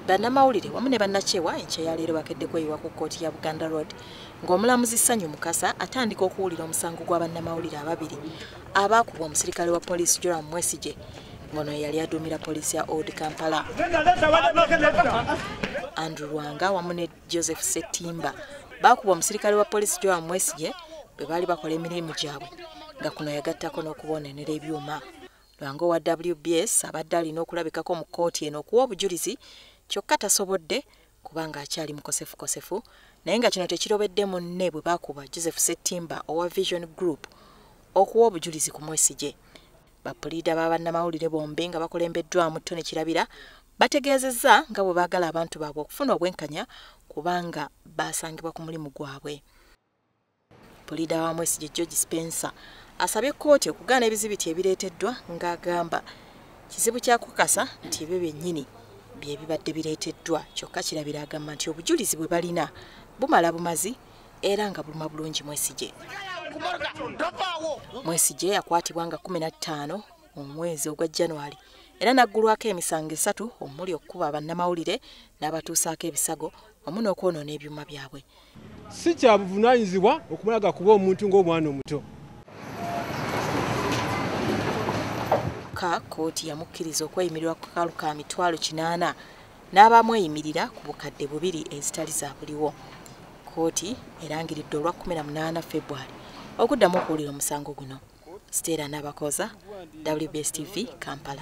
bannamawulire wamu ne bannakyewa enkya ya leero bakedde kweyiwa ku kkooti ya buganda road ng'omulamuzi sanyu mukasa atandika okuwulira omusango gwa bannamawulire ababiri abaakubwa omusirikale wa poliisi joram mwesigye ngono yeyali aduumira poliisi ya old kampala andrew lwanga wamu ne joseph setimba baakubwa omusirikale wa poliisi joram mwesigye bwe baali bakola emirimu gyabwe nga kuno yagattako n'okubonenera ebyuma Lwango wa WBS abadde alina okulabikako mu kkooti eno okuwa obujulizi kyokka tasobodde kubanga akyali mukosefukosefu naye nga kino tekirobedde munne bwe baakuba Joseph Settimba owa Vision Group okuwa obujulizi ku Mwesigye. Bapuliida ba bannamawulire bombi nga bakulembeddwamu Tony Kirabira bategeezezza nga bwe baagala abantu baabwe okufuna obwenkanya kubanga baasangibwa ku mulimu gwabwe. Pulida wa Mwesigye George Spencer asabye kkooti okugaana ebizibiti ebireeteddwa ng'agamba kizibu kya kukasa nti ebyo byennyini bye bibadde bireeteddwa kyokka kirabira agamba nti obujulizi bwe balina bumala bumazi era nga buluma bulungi Mwesigye. Mwesigye yakwatibwa nga 15 omwezi ogwa January era n'aggulwako emisango esatu omuli okukuba bannamawulire n'abatuusaako ebisago wamu n'okwonoona ebyuma byabwe Si kya buvunaanyizibwa okumulaga kuba omuntu ng'omwana omuto. Ka kkooti yamukkiriza okweyimirirwa ku kalu ka mitwalo kinaana n'abamweyimirira ku bukadde bubiri ezitali za buliwo. Kkooti erangiridde olwa 18 February okuddamu okuwulira omusango guno. Stella Nabakooza, WBS TV, Kampala.